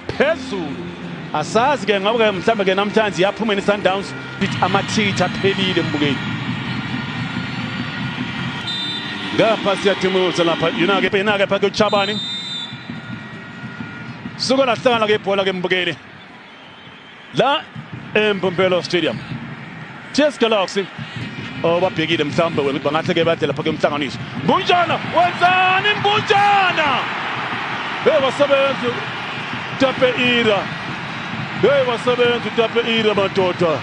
phezulu asazi ke ngabo ke mhlambe ke namhlanje yaphuma ni Sundowns amathitha aphelile mbukeli ngapha siyathimuluza lapha yona ke pena ke phakathi uChabani suka lahlangana ke ibhola ke mbukeli la eMbombela Stadium Cheers Galaxy obabhekile mhlawumbe ukuthi bangahle ke badle lapha ke umhlanganiso Mbunjana wenzani Mbunjana hey wasebenza Tape Ira hey wasebenza Tape Ira madoda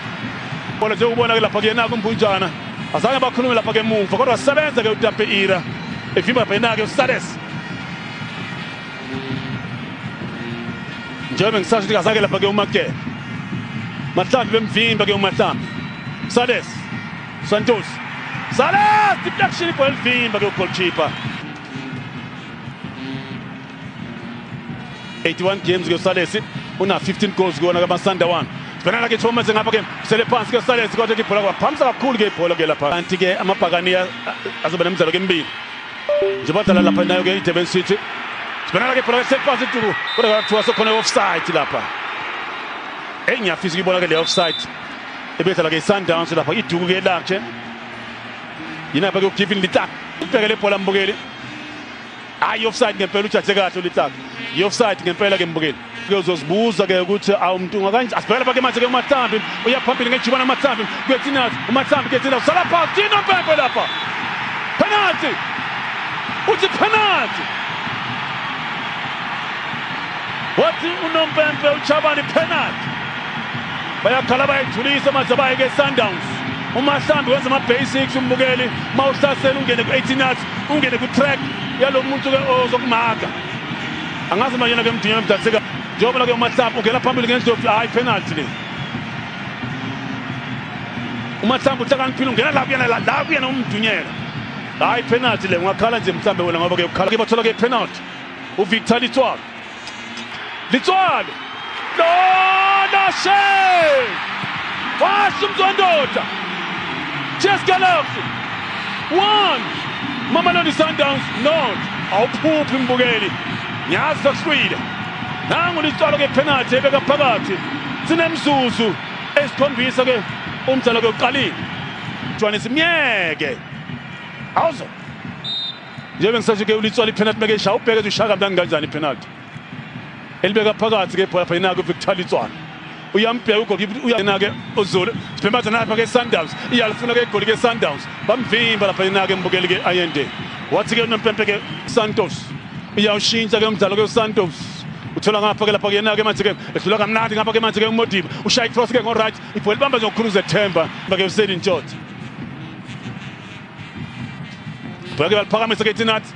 bona nje ubona ke lapha kuyena kumbunjana azange bakhulume lapha ke emuva kodwa sebenza ke uTape Ira evimba bhenake uSales njengoba ngisasho ukuthi kazake lapha ke umakele mahlambi bemvimba ke umahlambi sales santos sales deflection ibhola elivimba ke ugolkipa 81 games ke sales una 15 goals kuwona kamasanda one sibhekana lakhe ithoma manje ngapha ke sele phansi ke sales kodwa ke ibhola kwaphamisa kakhulu ke ibhola ke lapha kanti ke amabhakani azoba nemidlalo ke emibili nje badlala lapha nayo ke idurban city sibonana ke ibhola seliphasi tuku kodwa kwathiwa sekhona i-offside lapha eyi ngiyafisa ukuyibona ke le offside ebedlala ke i-sundowns lapha iduku ke lakhe yinapha ke ugivin litlak ubhekele ibhola mbukeli hayi i-offside ngempela ujadle kahle ulitlak i-offside ngempela ke mbukeli uyozozibuza ke ukuthi awu mntunga kanje asibhekele pake manje ke umathambi uya phambili ngejubana umathambi kwetinaz umathambi ketina usala phansi tino mpempe lapha penalty uthi penalty wathi unompempe uchabani penalty bayakhala bayayithulisa manje bayeke sundowns umahlambi wenza ama-basics umbukeli uma uhlasela ungene ku-18 yards ungene ku-track yalo muntu-ke ozokumaga angazi uma yena ke mdinyana mdanseka njengoba ke umahlamba ungena phambili ngendlovu hayi penalty le umahlamba uhlakaniphile ungena la kuyena la la kuyena umdunyela hayi penalty le ungakhala nje mhlambe wena ngoba ke ukhala ke bathola ke penalty uvictor litswalo litswalo Lona she! Washo umzwandoda. Cheers Galaxy. 1 Mamelodi Sundowns not. Awuphuphi mbukeli. Ngiyazi sakuhlwile. Nangu lisicalo ke penalty ebeka phakathi. Sinemzuzu esikhombisa ke umdlalo ke uqalile. Jwane simyeke. Awuzo. Njengoba ngisasho ke ulitswala ipenalty meke ishaya ubheke ushaka mntana kanjani ipenalty. elibeka phakathi ke ibhola phayina kuvictor litswana uyambheka ugolkipa uyanake uzulu sibhemaza napha ke sundowns iyalifuna ke igoli ke sundowns bamvimba lapha yena ke mbukeli ke ayende wathi ke unompempe ke santos iyawushintsha ke umdlalo ke usantos uthola ngapha ke lapha ke yena ke manje ke ehlula kamnandi ngapha ke manje ke umodiba ushaya icross ke ngoright ibhola ibamba nje ngokukhuluza ethemba ke useni ntshotha bheke baliphakamisa ke thinathi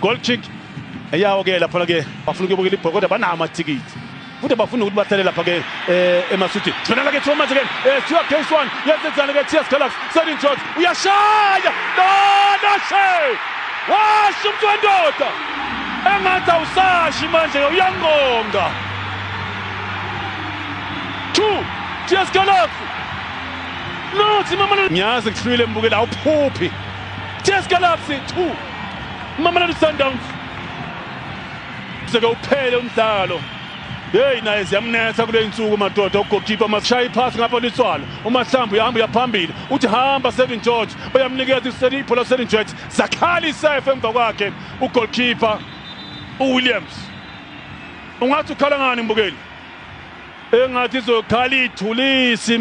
goal kick eyawo ke lapha ke bafuna ukuyobukela ibhola kodwa banawo amathikithi futhi bafuna ukuthi bahlale lapha ke eh, emaswitini sibonela ke Thomas ke eh, siwa case one yenzenzana ke TS Galaxy Serin George uyashaya dona she washo umuntu wendoda engathi awusashi manje uyangonga 2 TS Galaxy no simamana ngiyazi kuhlwile mbukela awuphuphi Jazz Galaxy 2 Mamelodi Sundowns seke uphele umdlalo heyi naye ziyamnetha kule nsuku madoda ugokipa mashaya iphasi ngapha liswala umahlambi uyahamba uyaphambili uthi hamba seven george bayamnikeza iseli ibhola seven george zakhala isafe emva kwakhe ugolkipa uwilliams ungathi ukhala ngani mbukeli engathi izokhala ithulisi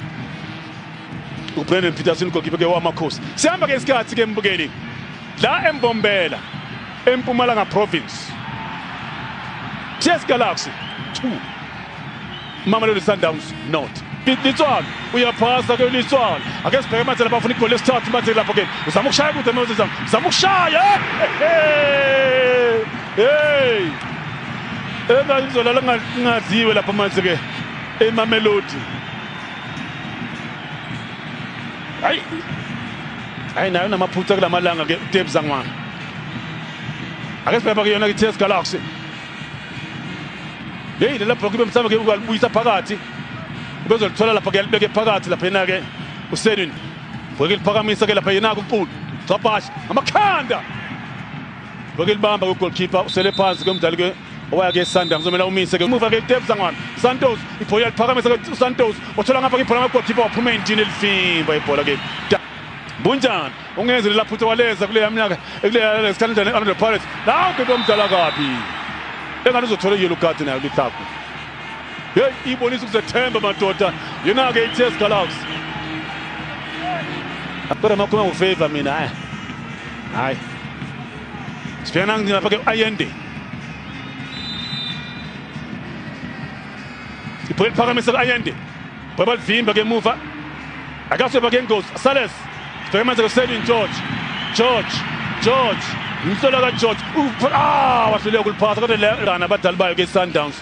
ubrandon peterson ugokipe ke wamakhosi sihamba ke isikhathi ke mbukeli la embombela empumalanga province ts galaxy 2 mamelodi sundowns not litswana uyaphasa ke litswana ake sibheke manje lapha afuna igoli lesithathu manje lapho ke uzama ukushaya kude manje uzama ukushaya hey hey Eka izola lingaziwe lapha manje ke eMamelodi. Hayi. Hayi nayo namaphutha kulamalanga ke Tebza ngwana. Ake sibheka ke yona ke TS Galaxy. Hey lela block ibe mhlawumbe ke ukalibuyisa phakathi. Ubezolithola lapha ke libeke phakathi lapha yena ke uSedwin. Bheke liphakamisa ke lapha yena kuqulu. Gcabhashi amakhanda. Ngokulibamba kwegoalkeeper usele phansi ke umdlali ke owaya ke Sundowns kuzomela umise ke umuva ke Tebs angwana Santos ibhola liphakamisa ke uSantos othola ngapha ke ibhola ngegolkipa waphuma endini elifimba ibhola ke Bunjani ungenze lela phutha waleza kule yamnyaka ekuleya lesikhathi njani Orlando Pirates la uGedo omdala kabi engathi uzothola yellow card nayo lithaku hey ibonisa ukuzethemba madoda yena ke iTS Galaxy Kodwa makhuluma ngofavor mina hayi hayi Sibhekana lapha ke Ayende. Iphole liphakamisa ke Ayende. Baba livimba ke emuva. Akaseba ke ngozi. Sales. Sibhekana manje ke Selin George. George. George. Umhlola ka George. Ah wahluleka ukuliphasa kodwa lana abadali bayo ke Sundowns.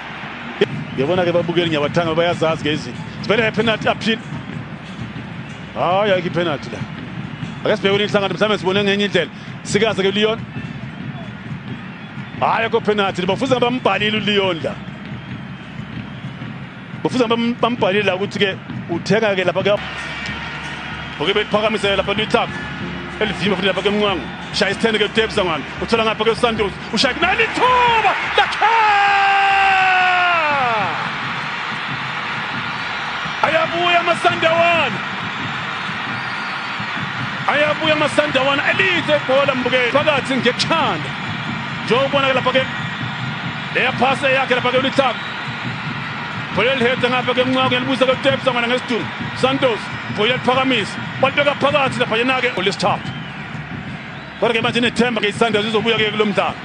yabona ke babukeli ngiyabathanga bayazazi ke izinto sibhele ngepenalty appeal hayi ayikho ipenalty la ake sibheke kule nhlangano mhlawumbe sibone ngenye indlela sikaze ke leon hayi akho penalty bafuza bambhalile uleon la bafuza bambhalile la ukuthi ke uthenga ke lapha ke oke beliphakamisele lapha lithapha elivimba futhi lapha ke mncango shaya isithende ke utebisa ngani uthola ngapha ke usantos ushaya kunani ithuba lakhe ayabuya amasandawana ayabuya amasandawana elize ibhola mbukeli phakathi ngekuthanda njengokubonakala lapha ke leya phasa yakhe lapha ke ulithaka bhola elihethe ngapha ke mncaku ngelibusa ke kutepsa ngwana ngesidungu santos bhola liphakamisa balibeka phakathi lapha yena-ke olesithathu Kodwa ke manje inethemba ke iSundowns izobuya ke kulo mdlalo.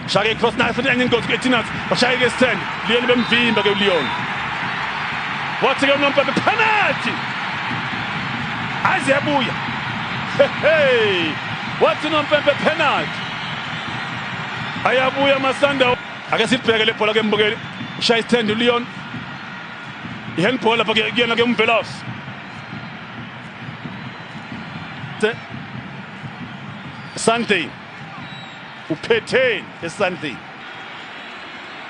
Shaya cross nayo futhi enye ingozi kuTinas bashaya ke stand Leon bemvimba ke uLeon. Wathi ke unompa penalty. Azebuya. Hey. Wathi unompempe penalty. Ayabuya amasanda. Ake sibheke le bhola ke mbukeli. Shaya stand uLeon. Ihandball lapha kuyena ke umvelosi. Sunday uphetheni eSunday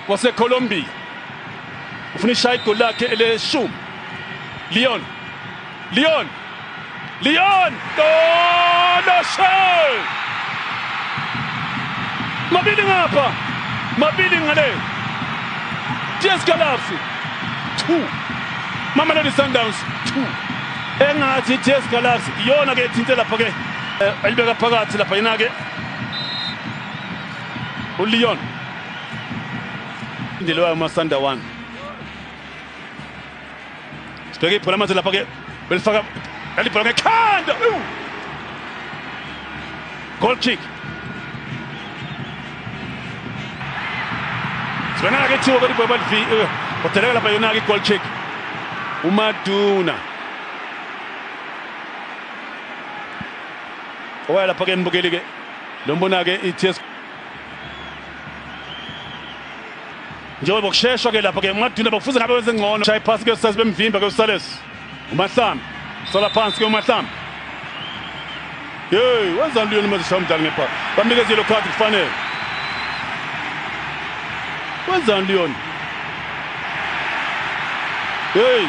waseColombia ufuna ishaya igoli lakhe eleshumi Leon Leon Leon Donoshe mabili ngapha mabili ngale Diaz Galafi 2 Mamelodi Sundowns 2 engathi iTS Galaxy iyona ke ethinte lapha ke eh, elibeka phakathi lapha yena ke uLeon indelo yayo uMasanda 1 sibheke ibhola manje lapha ke belifaka elibhola ngekhanda Goal kick. Sibonaka ke thiwa kodwa ibhola livi otheleka lapha yona ke goal kick. UMaduna. Oya lapha ke nibukeli ke. Lo mbona ke iTS njengoba kusheshwa ke lapha ke uMaduna bakufuze ngabe wenze ngcono. Shaya iphasi ke sasibemvimba ke uSales. uMahlambi sola phansi ke uMahlambi hey wenzani luyona uma zishaya umdlali ngebhaka bamnikeza yellow card kufanele wenzani luyona hey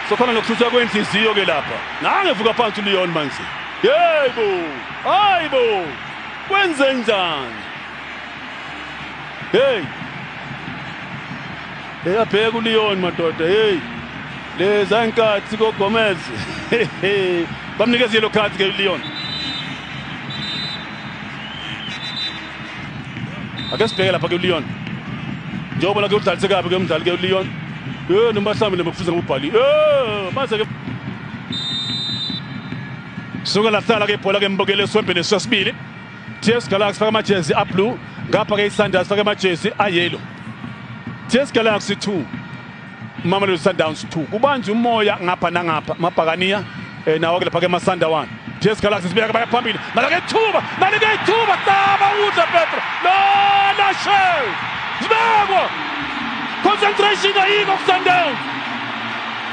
sokhona nokuthutha kwenhliziyo ke lapha nangevuka phansi uLeon manje yebo hayibo kwenze njani hey Hey abheka uLeon madoda hey leza inkathi koGomez bamnikeza yellow card ke uLeon Ake sibheke lapha ke uLeon njengoba la ke udlalise kabi ke umdlali ke uLeon eh noma hlambile makufuze ngubhali eh mase ke Suka lahlala ke ibhola ke mbokele eswembeni sesibili TS Galaxy faka amajezi ablue ngapha ke iSundowns faka amajezi ayellow TS Galaxy 2 Mamelodi Sundowns 2 kubanje umoya ngapha nangapha mabhakaniya eh, nawo ke lapha ke masandawana TS Galaxy sibeka baya phambili nalo ke thuba nalo ke thuba taba uza Petro lona shell sibekwa concentration ayikho kuSundowns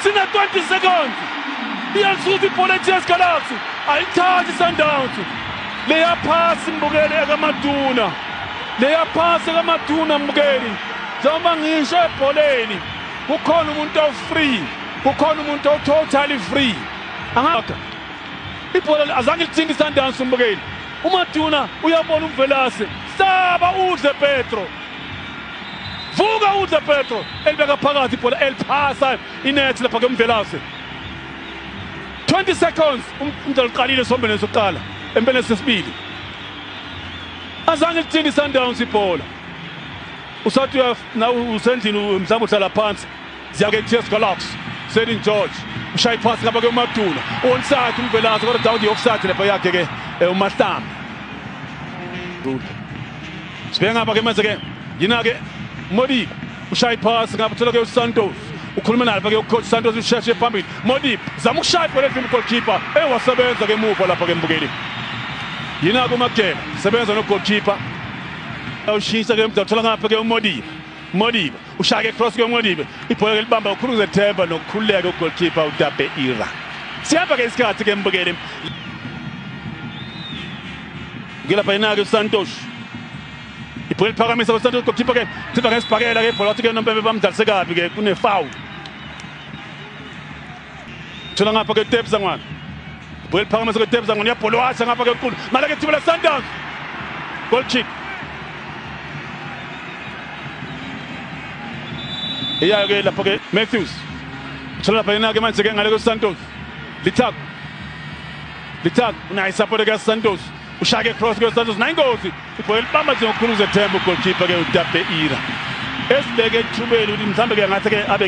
sina 20 seconds iyasuthi ibhola TS Galaxy ayithathi Sundowns Leya phasi mbukeli ekaMaduna. Leya phasi ekaMaduna mbukeli. Njengoba ngisho ebholeni kukhona umuntu ofree, kukhona umuntu ototally free. Angaka. Ibhola azange lithinte iSundowns umbukeli. umaduna uyabona umvelase saba udle petro vuka udle petro elibeka phakathi ibhola eliphasa inethi lapha kemvelase 20 seconds umdlalo uqalile sombele sokuqala empeleni sesibili azange lithini sundowns ibhola usathi usendlini mhlawumbe uhlala phansi ziyake ts galaxy selin george ushaya iphasi ngaba ke umaduna onside umvelase kodwa dawudi yokuside lepo yakhe ke eh, umahlamba sibheke ngapha ke manje ke yina-ke modiba ushaya iphasi ngabe uthola ke uSantos ukhuluma naye ke ucoach Santos usheshe phambili Modip zama ukushaya ibhola ezimu goalkeeper eh wasebenza ke emuva lapha ke mbukeli yina ku Magela sebenza no goalkeeper ushisa ke mdathola ngapha ke uModip Modiba ushaya ke cross ke uModiba ibhola ke libamba ukhulu zethemba nokukhululeka ugoalkeeper uDabe Ira siyapha ke isikhathi ke mbukeli ngilapha inake uSantos ibhola liphakamisa kwesantos goalkeeper ke thimba ngesibhakela ke ibhola wathi ke nompembe bamdlalise kabi ke kunefoul thola ngapha ke tebza ngwana ibhola liphakamisa kwetebza ngwana iyabhola washa ngapha ke nkulu mala ke thiba lesundowns goal kick iyayo ke lapho ke matthews thola lapha yena ke manje ke ngale kwesantos lithak lithak unayisapote ke santos ushake cross kwesantos nayingozi Ibhola elibamba nje ngokukhulu uzethemba ugolkipa-ke uTapeira esibeke ethubeni ukuthi mhlawumbe-ke ngathi-ke abe